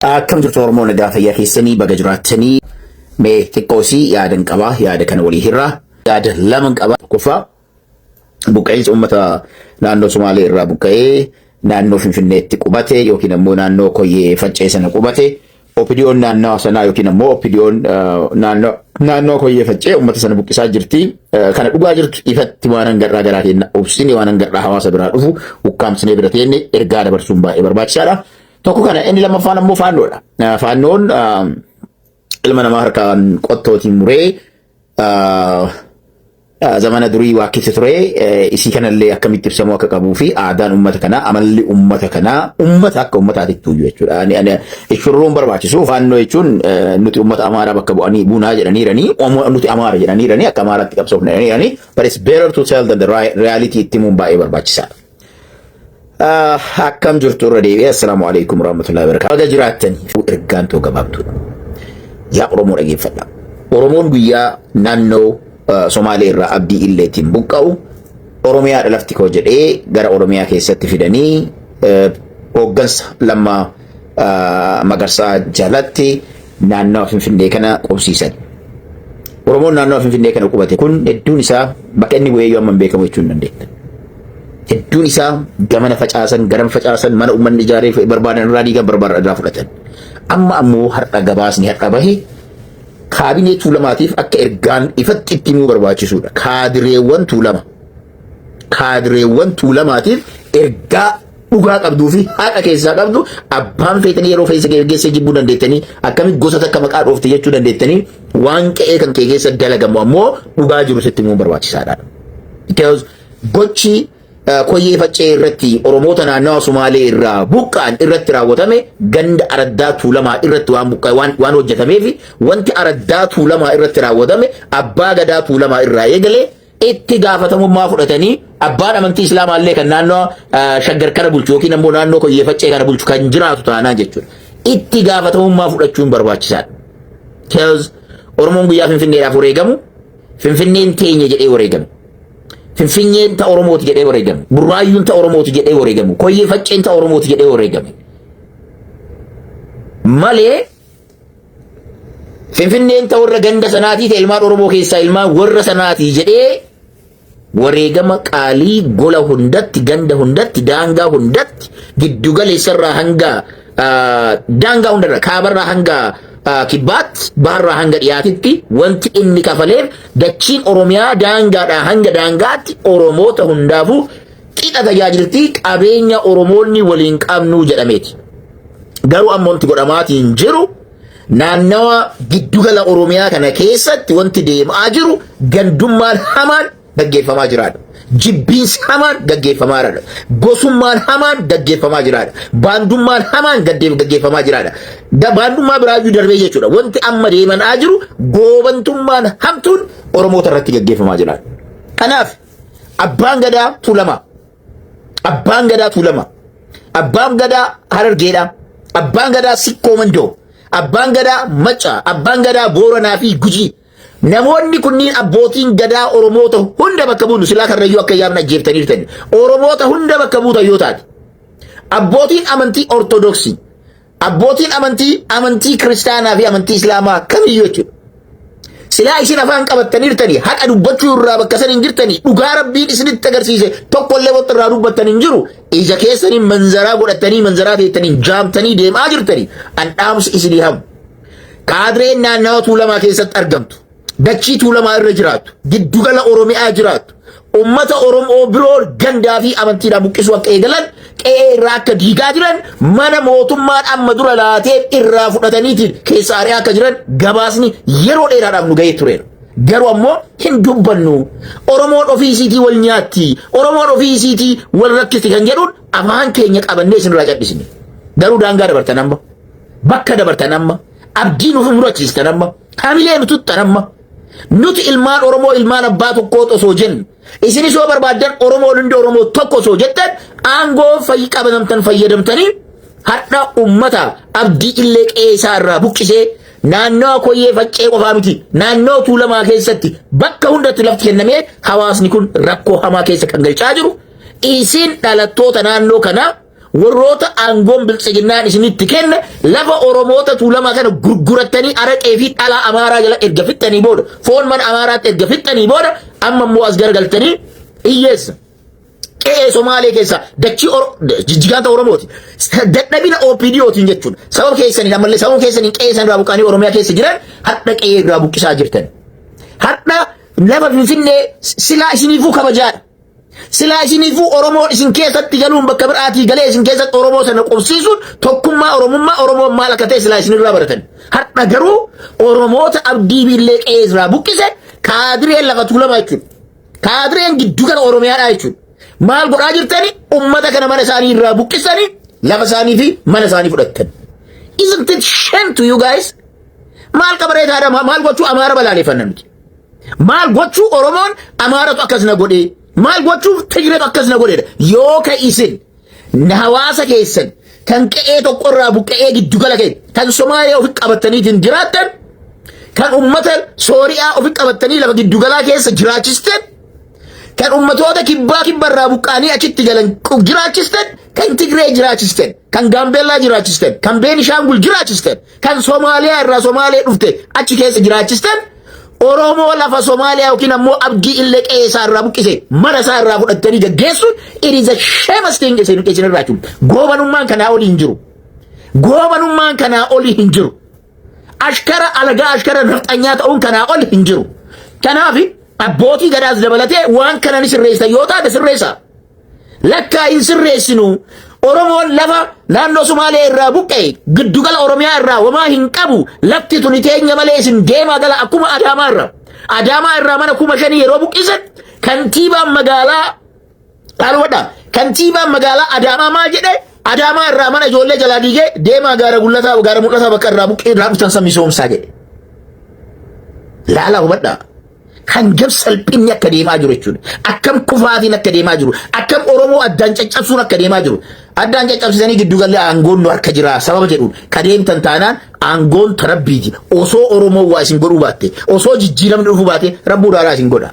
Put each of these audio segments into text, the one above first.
Akkam jirtu Oromoo nagaa fayyaa keessanii baga jiraattanii mee xiqqoosii yaadan qabaa yaada kana walii hirraa yaada laman qabaa tokkoffaa buqqa'insa uummata naannoo Somaalee irraa buqqa'ee naannoo Finfinneetti qubate yookiin ammoo naannoo Koyyee Faccee sana qubate opidiyoon naannoo sanaa yookiin ammoo opidiyoon naannoo naannoo Koyyee Faccee uummata sana buqqisaa jirti. Kana dhugaa jirtu ifatti waan hangarraa garaa keenya obsine waan hangarraa hawaasa biraa dhufu ukkaamsinee bira teenne ergaa dabarsuun baay'ee barbaachisaadha. Tokko kana inni lammaffaan ammoo faannoodha. Eh, Faannoon ah, ilma namaa harkaan qottootiin muree ah, ah, zamana durii waa keessa ture eh, isii kanallee akkamitti ibsamuu akka qabuu fi aadaan uummata kanaa amalli uummata kanaa uummata akka uummataatti tuuyyu jechuudha. Ani- ani- Shurruun barbaachisu faannoo jechuun eh, nuti uummata amaaraa bakka bu'anii buunaa jedhaniiranii omo- nuti amaara jedhaniiranii akka amaaraatti qabsoofna jedhaniiranii but it's better to tell than the ri- reality itti himuun baay'ee barbaachisaadha. Akkam jirtu irra deebi'ee assalaamu alaikum warahmatullahi wabarakatuh. Baga jiraattan ergaan too gabaabduudha. Yaa Oromoo dhageeffadha. Oromoon guyyaa naannoo eh, Somaalee irraa abdii illeetiin buqqa'u Oromiyaadha lafti koo jedhee gara Oromiyaa keessatti fidanii eh, hooggansa lammaa Magarsaa jalatti naannawa Finfinnee kana qubsiisan. Oromoon naannawa Finfinnee kana qubate kun hedduun isaa bakka inni bu'ee yoo amma hin beekamu jechuu hin dandeenya. Hedduun isaa gamana facaasan, garan facaasan, mana uummanni ijaaree barbaadan irraa diigan barbaadan irraa fudhatan. Amma ammoo har'a gabaasni har'a bahe kaabinee tuulamaatiif akka ergaan ifatti itti himuu barbaachisuudha. Kaadireewwan tuulama. Kaadireewwan tuulamaatiif ergaa dhugaa qabduu fi haqa keessaa qabdu abbaan feetanii yeroo feessa geggeessee jibbuu dandeettanii akkamitti gosa takka maqaa dhoofte jechuu dandeettanii waan qe'ee kan kee keessa dalagamu ammoo dhugaa jiru sitti immoo barbaachisaadha. Because gochi eh, koyyee faccee irratti Oromoota naannawa Sumaalee irraa buqqaan irratti raawwatame ganda araddaa tuulamaa irratti waan buqqaa waan, waan hojjetameef wanti araddaa tuulamaa irratti raawwatame abbaa gadaa tuulamaa irraa eegalee itti gaafatamummaa fudhatanii abbaan amantii islaamaa illee kan naannoo ah, shaggar kana bulchu yookiin ammoo naannoo koyyee faccee kana bulchu kan jiraatu taanaa jechuudha. Itti gaafatamummaa fudhachuun barbaachisaadha. Because Oromoon guyyaa Finfinneedhaaf wareegamu Finfinneen teenya jedhee wareegamu. Finfinneen ta Oromooti jedhee wareegamu. Burraayyuun ta Oromooti jedhee wareegamu. Koyyee facceen ta Oromooti jedhee wareegamu. Malee Finfinneen ta warra ganda sanaatii ta ilmaan Oromoo keessaa ilmaan warra sanaatii jedhee wareegama qaalii gola hundatti ganda hundatti daangaa hundatti giddugaleessarraa hanga daangaa hundarra kaabarraa hanga kibbaatti baharraa hanga dhiyaatitti wanti inni kafaleef dachiin Oromiyaa daangaadhaa hanga daangaatti Oromoota hundaafuu qixa tajaajiltii qabeenya Oromoonni waliin qabnuu jedhameeti. Garuu amma wanti godhamaatiin jiru naannawa giddugala Oromiyaa kana keessatti wanti deemaa jiru gandummaan hamaan gaggeeffamaa jiraadha. Jibbiinsi hamaan gaggeeffamaa jiraadha. Gosummaan hamaan gaggeeffamaa jiraadha. Baandummaan hamaan gaggeeffamaa jiraadha. Baandummaa biraayyuu darbee jechuudha. Wanti amma deemaa jiru goobantummaan hamtuun Oromoota irratti gaggeeffamaa jiraadha. Kanaaf Abbaan Gadaa Tuulamaa. Abbaan Gadaa Tuulamaa. Abbaan Gadaa Harargeedhaa. Abbaan Gadaa Sikkoo Mandoo. Abbaan Gadaa Maccaa. Abbaan Gadaa Booranaa fi Gujii. Namoonni kunniin abbootiin gadaa Oromoota hunda bakka buunu silaa karrayyuu akka yaamna jeeftanii jirtan. Oromoota hunda bakka buutan yoo taate. Abbootiin amantii Ortodoksii. Abbootiin amantii amantii kiristaanaa fi amantii islaamaa kamiyyuu jechuudha. Silaa isin afaan qabattaniirtanii haqa dubbachuu irraa bakka san hin jirtanii dhugaa rabbiin isinitti agarsiise tokko illee wanti irraa dubbattan hin jiru ija keessaniin manzaraa godhattanii manzaraa teettanii jaamtanii deemaa jirtanii an dhaamsi isinii hamu. Kaadreen naannawa tuulamaa keessatti argamtu. dachii tuulamaa irra jiraattu, giddugala Oromiyaa jiraattu, ummata Oromoo biroo gandaa fi amantiidhaan buqqisuu akka eegalan, qe'ee irraa akka diigaa jiran, mana mootummaan amma dura laatee irraa fudhataniitiin keessa ari'aa akka jiran gabaasni yeroo dheeraadhaaf nu ga'ee tureera. Garuu ammoo hin dubbannu. Oromoon ofii isiitii wal nyaatti. Oromoon ofii isiitii wal rakkisti kan jedhuun afaan keenya qabannee isinirraa cadhisne. Garuu daangaa dabartan amma. Bakka dabartan amma. Abdii nuuf murachiistan amma. Hamilee nu tuttan amma. Nuti ilmaan Oromoo ilmaan abbaa tokkoo osoo jennu. Isinis yoo barbaaddan Oromoon hundi Oromoo tokko osoo jettan aangoo fayyi qabatamtan fayyadamtanii har'a ummata abdii illee qe'ee isaa irraa buqqisee naannawa koyyee faccee qofaa miti naannawa tuulamaa keessatti bakka hundatti lafti kennamee hawaasni kun rakkoo hamaa keessa kan galchaa jiru isin dhalattoota naannoo kanaa Warroota aangoon biltsiginnaan isinitti kenne lafa Oromoota tuulamaa kana gurgurattanii araqee fi dhalaa Amaaraa jala erga fixxanii booda foon mana Amaaraatti erga fixxanii booda amma immoo as garagaltanii hiyyeessa. Qe'ee Somaalee keessaa dachii jijjigaanta Oromooti. Dadhabina OPDOtiin jechuudha. Sababa keessaniin ammallee sababa keessaniin qe'ee isaan irraa buqqaanii Oromiyaa keessa jiran hadha qe'ee irraa buqqisaa jirtan. Hadha lafa Finfinnee silaa isiniifuu kabajaadha. Silaa isiniifuu Oromoo isin keessatti galuun bakka biraatii galee isin keessatti Oromoo sana qubsiisuun tokkummaa Oromummaa Oromoon maal akka ta'e silaa isinirraa baratan. Har'a garuu Oromoota abdii biillee qe'ee irraa buqqise kaadireen lafa tuulamaa jechuudha. Kaadireen giddu gala Oromiyaadhaa jechuudha. Maal godhaa jirtani ummata kana mana isaanii irraa buqqisanii lafa isaanii fi mana isaanii fudhattan. Isn't it shame to you guys? Maal qabareetaadha maal gochuu amaara balaaleffanna nuti. Maal gochuu Oromoon Amaaratu akkas na godhee maal gochuuf Tigreetu akkas na godheedha yoo ka isin na hawaasa keessan kan qe'ee tokko irraa buqqa'ee giddu gala ka'e kan Somaalee ofi qabataniitiin jiraattan kan ummata Sooriyaa ofi qabatanii lafa giddu galaa keessa jiraachistan kan ummatoota kibbaa kibba irraa buqqa'anii achitti galan qu- jiraachistan kan Tigree jiraachistan kan Gaambeellaa jiraachistan kan Beenishaangul jiraachistan Kan Somaaliyaa irraa Somaalee dhufte achi keessa jiraachistan Oromoo lafa Somaaliyaa yookiin ammoo abdii illee qe'ee isaa irraa buqqise mana isaa irraa fudhattanii gaggeessuun it is a shameless thing isin isin irraa jechuudha. Goobanummaan kanaa olii hin jiru. Goobanummaan kanaa olii hin jiru. Ashkara alagaa ashkara nafxanyaa ta'uun kanaa ol hin jiru. Kanaaf abbootii gadaas dabalatee waan kana ni sirreessa yoo taate sirreessa. lakkaa hin sirreessinu Oromoon lafa naannoo Sumaalee irraa buqqa'e giddugala Oromiyaa irraa homaa hin qabu lafti tuni teenya malee isin deemaa gala akkuma Adaamaa irraa. Adaamaa irraa mana kuma shanii yeroo buqqisan kantiibaan magaalaa dhaalwadha. Kantiibaan magaalaa Adaamaa maal jedhe Adaamaa irraa mana ijoollee jalaa diigee deemaa gaara gullataa gaara mul'ataa bakka irraa buqqee irraa dhuftan san misoomsaa jedhe. Laala hubadhaa. kan gab salphinni akka deemaa jiru jechuudha. Akkam kufaatiin akka deemaa jiru, akkam Oromoo addaan caccabsuun akka deemaa jiru. Addaan caccabsisanii giddu galli aangoon nu harka jira sababa jedhuun ka deemtan taanaan aangoon ta rabbiiti. Osoo Oromoo waa isin godhuu baatte, osoo jijjiiramni dhufuu baatte rabbuu dhaalaa isin godha.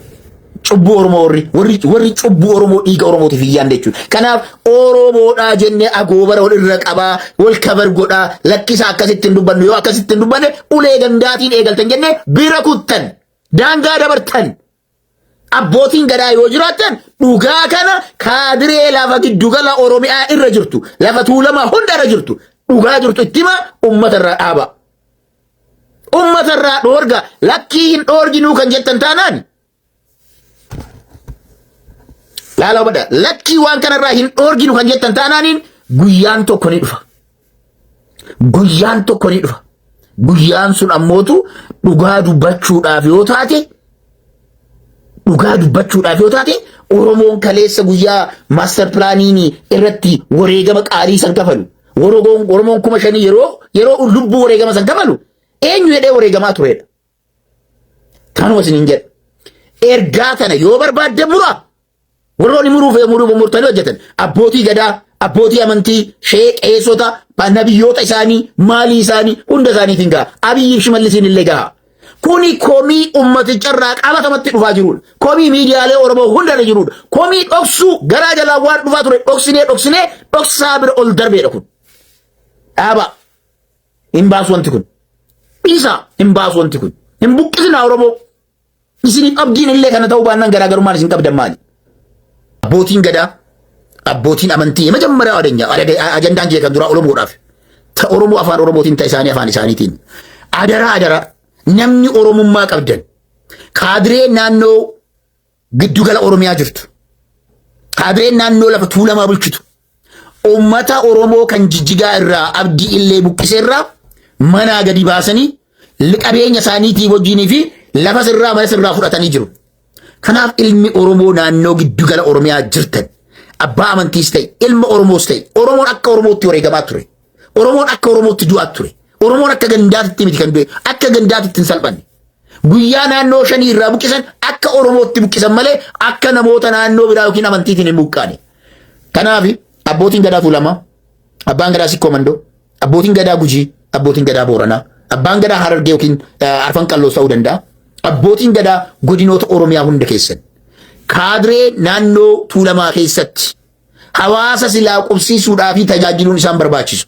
Cubbuu Oromoo warri, warri, warri cubbuu Oromoo dhiiga Oromootiif hin yaadne jechuudha. Kanaaf Oromodhaa jennee agoobara wal irra qabaa wal kabar godhaa lakkisaa akkasitti hin dubbannu yoo akkasitti hin dubbanne ulee gandaatiin eegaltan jennee bira kuttan daangaa dabartan abbootiin gadaa yoo jiraattan dhugaa kana kaadiree lafa giddugala Oromiyaa irra jirtu lafa tuulamaa hunda irra jirtu dhugaa jirtu itti himaa uummata irraa dhaabaa. Uummata irraa dhoorga lakkii hin dhoorginuu kan jettan taanaan Laalaa hubadhaa lakkii waan kanarraa hin dhoorginu kan jettan taanaaniin guyyaan tokko ni dhufa. Guyyaan tokko ni dhufa. Guyyaan sun ammootu dhugaa dubbachuudhaaf yoo taate dhugaa dubbachuudhaaf yoo taate Oromoon kaleessa guyyaa maaster pilaaniin irratti wareegama qaalii san kafalu. Oromoon kuma shanii yeroo yeroo lubbuu wareegama san kafalu eenyu jedhee wareegamaa turedha. Kanuma isin hin jedhu. Ergaa kana yoo barbaadde mura warroonni muruuf muruuf murtanii hojjetan abbootii gadaa abbootii amantii shee qeessota nabiyyoota isaanii maalii isaanii hunda isaaniitiin gaha abiyyiif shimallisiin illee gaha. Kuni komii uummaticharraa qabatamatti dhufaa jirudha. Komii miidiyaalee Oromoo hundarra jirudha. Komii dhoksuu garaa jalaa waan dhufaa ture dhoksinee dhoksinee dhoksaa bira ol darbeedha kun. Dhaabaa. Hin baasu wanti kun. Dhiisaa hin baasu wanti kun. Hin buqqisina Oromoo. Isiniif abdiin illee kana ta'uu baannaan garaagarummaan isin qabdan maali? Abbootiin gadaa, abbootiin amantii majammara adeenya ajandaan kee kan duraa Oromoodhaaf. Ta Oromoo afaan Oromootiin ta isaanii afaan isaaniitiin. Adaraa adaraa namni Oromummaa qabdan kaadiree naannoo giddu gala Oromiyaa jirtu qabeen naannoo lafa tuulamaa bulchitu uummata Oromoo kan jijjigaa irraa abdii illee buqqise irraa manaa gadi baasanii qabeenya isaaniitii wajjinii fi lafa sirraa mana sirraa fudhatanii jiru. Kanaaf ilmi Oromoo naannoo giddu gala Oromiyaa jirtan abbaa amantiis ta'e ilma Oromoos ta'e Oromoon akka Oromootti wareegamaa ture. Oromoon akka Oromootti du'aa ture. Oromoon akka gandaatitti miti kan du'e. Akka gandaatitti hin salphanne. Guyyaa naannoo shanii irraa buqqisan akka Oromootti buqqisan malee akka namoota naannoo biraa yookiin amantiitiin hin buqqaane. Kanaaf abbootiin gadaa tuulamaa, abbaan gadaa sikkoo mandoo, abbootiin gadaa gujii, abbootiin gadaa booranaa, abbaan gadaa harargee yookiin eh, arfan qalloos ta'uu danda'a. Abbootiin gadaa godinoota Oromiyaa hunda keessan kaadree naannoo tuulamaa keessatti hawaasa silaa qubsiisuudhaa fi tajaajiluun isaan barbaachisu.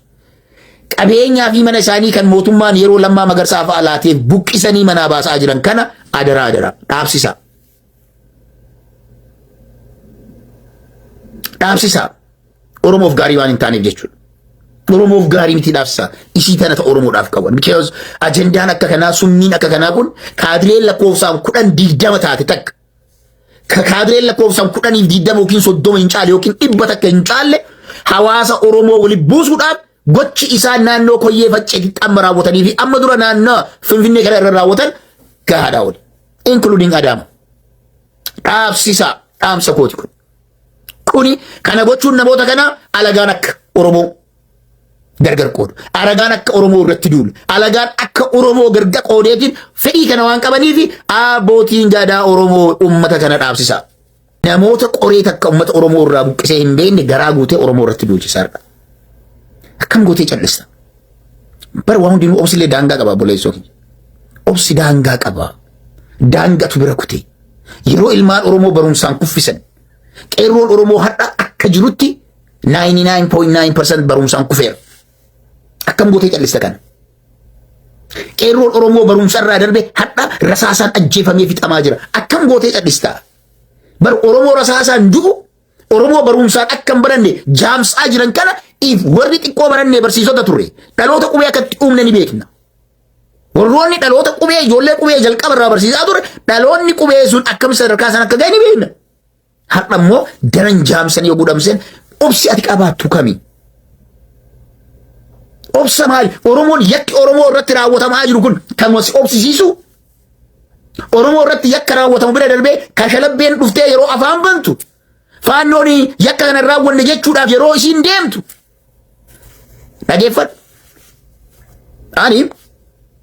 Qabeenyaa fi mana isaanii kan mootummaan yeroo lammaa magarsaa fa'aa laateef buqqisanii manaa baasaa jiran kana adaraa adaraa dhaabsisaa. Dhaabsisaa. Oromoof gaarii waan hin taaneef jechuudha. Oromoof gaarii miti dhaabsisaa. Ishii tana ta Oromoodhaaf qaban. Because ajandaan akka kanaa summiin akka kanaa kun kaadileen lakkoofsaan kudhan digdama taate takka. Kaabireen lakkoofsaan kudhaniif diiddama yookiin soddoma hin caalle yookiin dhibba takka hin caalle hawaasa Oromoo waliin buusuudhaaf gochi isaan naannoo koyyee facceetitti amma raawwatanii fi amma dura naannoo Finfinnee kana irra raawwatan gahaadhaa oli. Inkuluudiin Adaama. Dhaabsisaa dhaamsa kooti kun. Kuni kana gochuun namoota kana alagaan akka Oromoo gargar qoodu. Aragaan akka Oromoo irratti duulu. Alagaan akka Oromoo gargar qoodeetiin fedhii kana waan qabaniif abbootiin gadaa Oromoo uummata kana dhaabsisa. Namoota qoree takka uummata Oromoo irraa buqqisee hin beekne garaa guutee Oromoo irratti duulchisaa jira. Akkam gootee callista? Bara waan hundinuu obsillee daangaa qaba buleessoo keenya. Obsi daangaa qaba. Daangatu bira kutee. Yeroo ilmaan Oromoo barumsaan kuffisan. Qeerroon Oromoo har'a akka jirutti 99.9% barumsaan kufeera. Akkam gootee callista kana? Qeerroon Oromoo barumsa irraa darbe hadha rasaasaan ajjeefamee fixamaa jira. Akkam gootee callista? Bar Oromoo rasaasaan du'u Oromoo barumsaan akka hin baranne jaamsaa jiran kana if warri xiqqoo barannee barsiisota turre dhaloota qubee akkatti uumne ni beekna. Warroonni dhaloota qubee ijoollee qubee jalqaba irraa barsiisaa ture dhaloonni qubee sun akkam sadarkaa san akka ga'e ni beekna. Har'a immoo daran jaamsan yoo gudhamseen obsi ati qabaattu kami? Obsa maali? Oromoon yakki Oromoo irratti raawwatamaa jiru kun kan wasi obsisiisu Oromoo irratti yakka raawwatamu bira darbee kashalabbeen dhuftee yeroo afaan bantu faannoon yakka kana raawwanne jechuudhaaf yeroo isiin deemtu Dhageeffadhu. Ani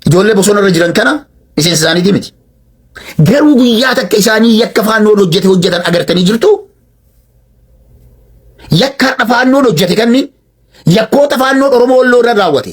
ijoollee bosona irra jiran kana miseensa isaaniitii miti. Garuu guyyaa takka isaanii yakka faannoon hojjete hojjetan agartanii jirtu. Yakka har'a faannoon hojjete kanni yakkoota faannoon Oromoo Walloo irra raawwate.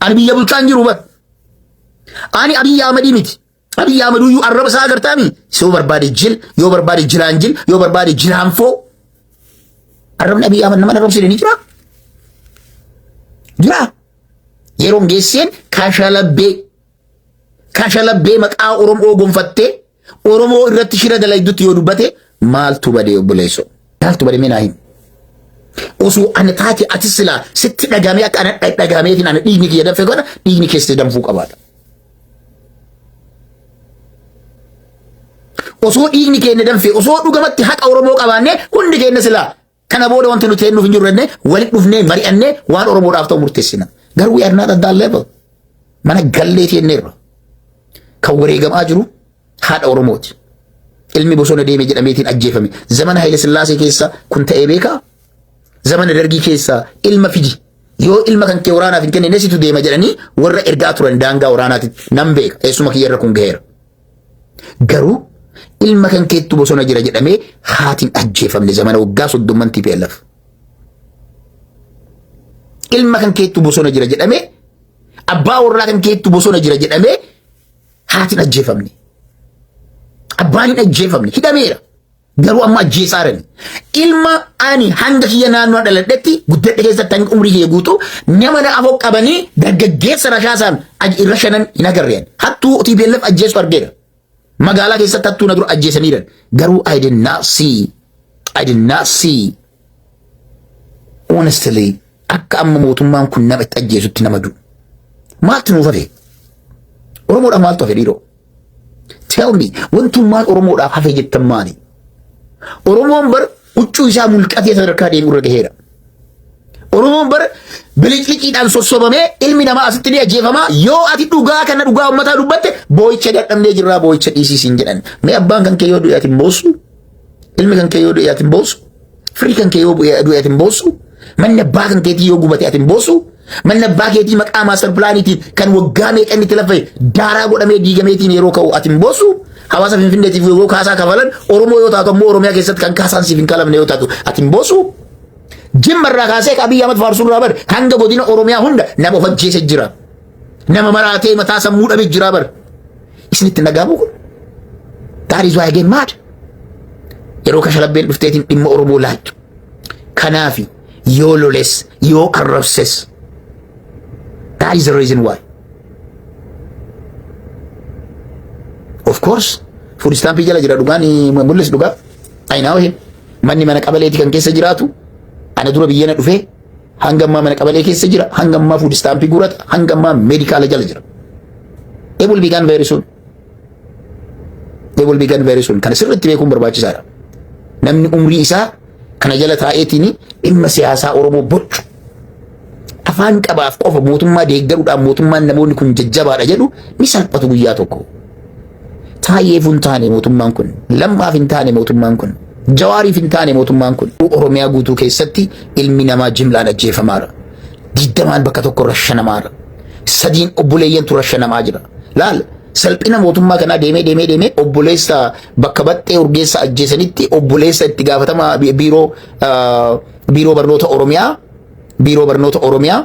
Ani biyya bulchaa hin jiru bar. Ani Abiyyi Ahmadii miti. Abiyyi Ahmaduyyuu arraba isaa agartaami. Yoo barbaade jil, yoo barbaade jilaan jil, yoo barbaade jilaan foo. Arrabni Abiyyi Ahmad nama arrabsiise ni jira. Jira. Yeroon geesseen kashalabbee kashalabbee maqaa Oromoo gonfattee Oromoo irratti shira dalaydutti yoo dubbate maaltu badee obboleesso? Maaltu badee mee naa himi? Osoo ana taate ati silaa sitti dhagamee akka ana dhagameetiin ana dhiigni kiyya danfe godha dhiigni keessi danfuu qabaadha. Osoo dhiigni keenya danfe osoo dhugamatti haqa Oromoo qabaannee hundi keenya silaa Kana booda wanti nuti eenyuuf hin jirru jennee walitti dhufnee mari'annee waan Oromoodhaaf ta'u murteessina. Garuu we are not at that level. Mana gallee teenneerra. Kan wareegamaa jiru haadha Oromooti. Ilmi bosona deeme jedhameetiin ajjeefame. Zamana Haile Sillaasee keessa kun ta'ee beekaa? Zamana Dargii keessa ilma fidi. Yoo ilma kan kee waraanaaf hin kennine situ deema jedhanii warra ergaa turan daangaa waraanaatitti nan beeka. Eessuma kiyyarra kun gaheera. Garuu ilma kan keettu bosona jira jedhamee haatiin ajjeefamne zamana waggaa soddomman TPLF. Ilma kan keettu bosona jira jedhamee abbaa warraa kan keettu bosona jira jedhamee haatiin ajjeefamne. Abbaan hin ajjeefamne hidhameera. Garuu amma ajjeesaa jiran. Ilma ani hanga kiyya naannoo dhaladhetti guddadhe keessatti hanga umrii kiyya guutu nama na afoo qabanii dargaggeessa rashaasaan aj- irra shanan hin agarreen. Hattuu TPLF ajjeesu argeera. Magaalaa keessatti hattuu na dura ajjeesaniiran. Garuu I did not see. I did not see. Honestly akka amma mootummaan kun nama itti ajjeesutti nama du'u. Maaltu nuuf hafe? Oromoodhaaf maaltu hafe dhiiroo? Tell me wantummaan Oromoodhaaf hafe jettan maali? Oromoon bar huccuu isaa mulqatee sadarkaa deemu irra gaheera. Oromoon bar bilicliciidhaan sossobamee ilmi namaa asitti ni ajjeefama yoo ati dhugaa kana dhugaa ummataa dubbatte boo'icha dadhabnee jirraa boo'icha dhiisii siin jedhan. Mee abbaan kan kee yoo du'e ati hin boossu? Ilmi kan kee yoo du'e ati hin boossu. Firii kan kee yoo bu'e du'e ati hin boossu. Manni abbaa kan keetii yoo gubate ati hin boossu. Manni abbaa keetii maqaa maastar pilaaniitiin kan waggaa meeqa inni itti laffa'e daaraa godhamee diigameetiin yeroo ka'u ati hin boossu. Hawaasa Finfinneetiif yoo kaasaa kafalan Oromoo yoo taatu ammoo Oromiyaa keessatti kan kaasaan siif hin kalamne yoo taatu ati hin boossu. Jimma irraa kaasee Abiy Ahmed faarsuun irraa bare hanga godina Oromiyaa hunda nama of ajjeese jira. Nama maraatee mataa sammuu dhabe jiraa bar. Isinitti nagaamuu kun. That is why I get mad. Yeroo kashalabbeen dhufteetiin dhimma Oromoo laaltu. Kanaafi yoo loles yoo arrabses. That is the reason why. Of course, food stamp jala jira dhugaan mul'is dhugaa. Ayinaa wahee manni mana qabaleeti kan keessa jiraatu ana dura biyyana dhufee Hanga ammaa mana qabalee keessa jira. Hanga ammaa fuud istaampii guurata. Hanga ammaa meedikaala jala jira. It will be gone very soon. It will be gone very soon. Kana sirriitti beekuun barbaachisaadha. Namni umrii isaa kana jala taa'eetiin dhimma siyaasaa Oromoo bocu. Afaan qabaaf qofa mootummaa deeggaruudhaan mootummaan namoonni kun jajjabaadha jedhu ni salphatu guyyaa tokko. Taayyeef hin taane mootummaan kun. Lammaaf hin taane mootummaan kun. Jawaariif hin taane mootummaan kun. Oromiyaa guutuu keessatti ilmi namaa jimlaan ajjeefamaara. Digdamaan bakka tokko rashanamaara. Sadiin obboleeyyantu rashanamaa jira. Laal salphina mootummaa kanaa deemee deemee deemee obboleessa bakka baxxee urgeessa ajjeesanitti obboleessa itti gaafatama biiroo biiroo barnoota Oromiyaa biiroo barnoota Oromiyaa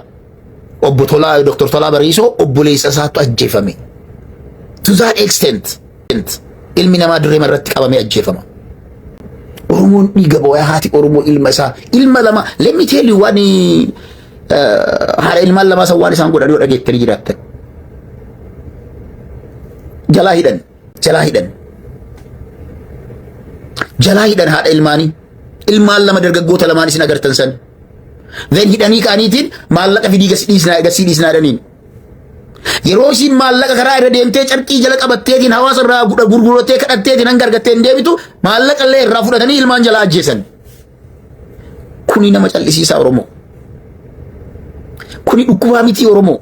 obbo Tolaa Dr. Tolaa Bariisoo obboleessa isaatu ajjeefame. To that extent ilmi namaa dirree irratti qabamee ajjeefama. Oromoon dhiiga boo'aa haati Oromoo ilma isaa ilma lama let me tell you waan haadha ilmaan lamaa san waan isaan godhan yoo dhageettanii jiraattan. Jalaa hidhan jalaa hidhan jalaa hidhan haadha ilmaanii ilmaan lama dargaggoota lamaan isin agartan san. Then hidhanii ka'aniitiin maallaqa fidii gasi dhiisnaa egasii dhiisnaa jedhaniin. Yeroo isiin maallaqa karaa irra deemtee carqii jala qabatteetiin hawaasa irraa gudha gurgurattee kadhatteetiin hanga argattee hin deebitu maallaqa illee irraa fudhatanii ilmaan jalaa ajjeesan. Kuni nama callisiisaa Oromoo. Kuni dhukkubaa mitii Oromoo.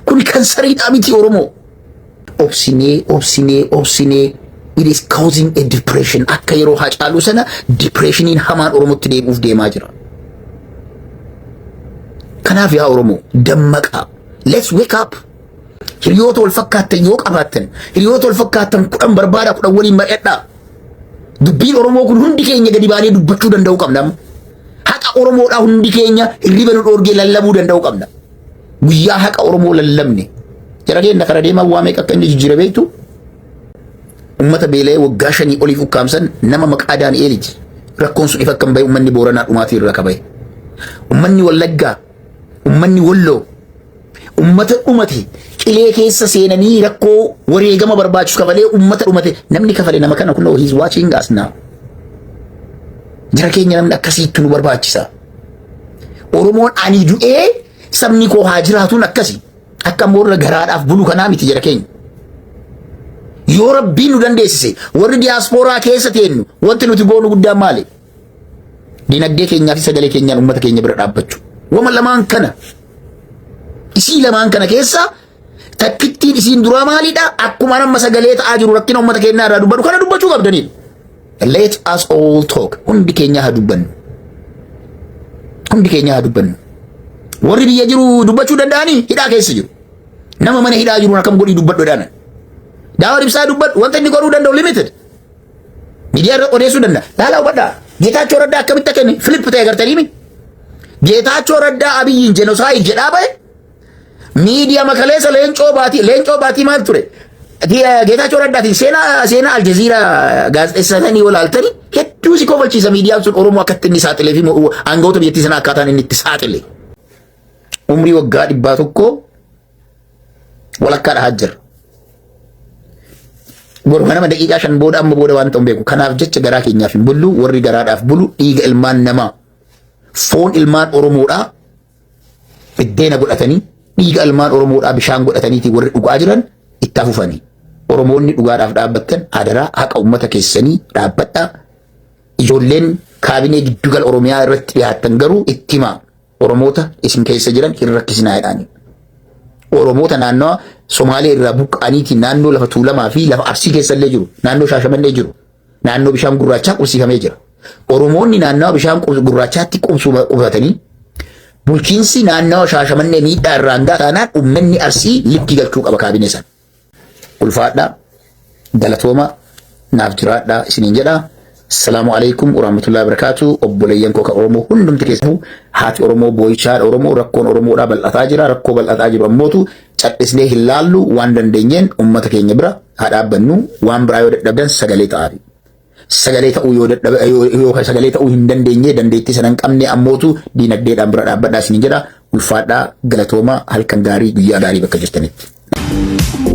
Kuni kansariidhaa mitii Oromoo. obsinee obsinee obsinee it is causing a depression akka yeroo hacaaluu sana depressioniin hamaan oromotti deebi'uuf deemaa jira kanaaf yaa oromoo dammaqaa let's wake up hiriyoota wal fakkaattan yoo qabaattan hiriyoota wal fakkaattan kudhan barbaada kudhan waliin mari'adhaa dubbiin oromoo kun hundi keenya gadi baanee dubbachuu danda'uu qabna haqa oromoodhaa hundi keenya hirriba nu dhoorgee lallabuu danda'uu qabna Guyyaa haqa Oromoo lallabne jara keenya kara deemaa waa meeqa akka inni jijjiire beektu ummata beela'ee waggaa shanii oliif ukkaamsan nama maqaa Daani'eeliti rakkoon sun ifa akka hin bahe ummanni Booranaa dhumaatii irraa qabae. Ummanni Wallaggaa, ummanni Walloo, ummata dhumate qilee keessa seenanii rakkoo wareegama barbaachisu kafalee ummata dhumate namni kafale nama kana kunoo he's watching us now. Jara keenya namni akkasiitti nu barbaachisa. Oromoon ani du'ee sabni koo haa jiraatuun akkasi. Akka immoo irra garaadhaaf bulu kanaa miti jara keenya. Yoo rabbiin nu dandeessise warri diyaaspooraa keessa teennu wanti nuti goonu guddaan maali? Dinagdee keenyaa fi sagalee keenyaan uummata keenya bira dhaabbachuu. Wama lamaan kana isii lamaan kana keessa Takkittiin isiin duraa maalidha? Akkuma amma sagalee ta'aa jiru rakkina uummata keenyaa irraa dubbadhu kana dubbachuu qabdaniidha. Let us all talk. Hundi keenya haa dubbannu. Hundi keenya haa dubbannu. Warri biyya jiru dubbachuu danda'anii hidhaa keessa jiru. Nama mana hidhaa jiruun akkam godhii dubbadhu jedhaan. Daawwan ibsaa dubbadhu wanta inni godhuu danda'u limited. Miidiyaa irra odeessuu danda'a. Laalaa hubadhaa. Geetaachoo Raddaa akkamitti akka inni Filiip ta'e agartanii mi? Geetaachoo Raddaa Abiyyiin jenosaayid jedhaa ba'e Miidiyaa makaleessa leencoo baatii leencoo baatii maal ture? Geetaachoo Raddaatiin seenaa seenaa Aljaziiraa gaazexeessanii yoo laaltanii hedduu si kofalchiisa miidiyaan sun Oromoo akkatti inni saaxilee fi aangawoota biyyattii sana akkaataan inni itti saaxile. Umrii waggaa dhibbaa tokkoo walakkaa dhahaa jira. Boruma nama daqiiqaa shan booda amma booda waan ta'u beeku. Kanaaf jecha garaa keenyaaf hin bullu warri garaadhaaf bulu dhiiga ilmaan namaa foon ilmaan Oromoodhaa Biddeena godhatanii dhiiga almaan Oromoodhaa bishaan godhataniitii warri dhugaa jiran itti afufanii. Oromoonni dhugaadhaaf dhaabbattan adaraa haqa uummata keessanii dhaabbadhaa. Ijoolleen kaabinee giddugala Oromiyaa irratti dhiyaattan garuu itti himaa. Oromoota isin keessa jiran hin rakkisinaa jedhaanii. Oromoota naannawa Somaalee irraa buqqa'aniitiin naannoo lafa Tuulamaa fi lafa Arsii keessa illee jiru. Naannoo Shaashamannee jiru. naannoo bishaan gurraachaa qubsiifamee jira. Oromoonni naannawa bishaan gurraachaatti qubsuma qubatanii bulchiinsi naannawa shaashamannee miidhaa irraan gahaa taanaan uummanni arsii likkii galchuu qaba kaabinee sana. Ulfaadhaa galatooma naaf jiraadhaa isiniin jedha. Salaamu alaikum warahmatullahi wabarakatuh. Obboleeyyan koo kan Oromoo hundumti keessanuu haati Oromoo boo'ichaa Oromoo rakkoon Oromoodhaa bal'ataa jira. Rakkoo bal'ataa jiru ammootu Cadhisnee hin laallu waan dandeenyeen ummata keenya bira haa dhaabbannu waan biraa yoo dadhabdan sagalee ta'aafi. Sagalee ta'uu yoo dadhaba yoo sagalee ta'uu hin dandeenye dandeettii sana hin qabne ammootu diinagdeedhaan bira dhaabbadhaa isin jedha ulfaadhaa galatooma halkan gaarii guyyaa gaarii bakka jirtanitti.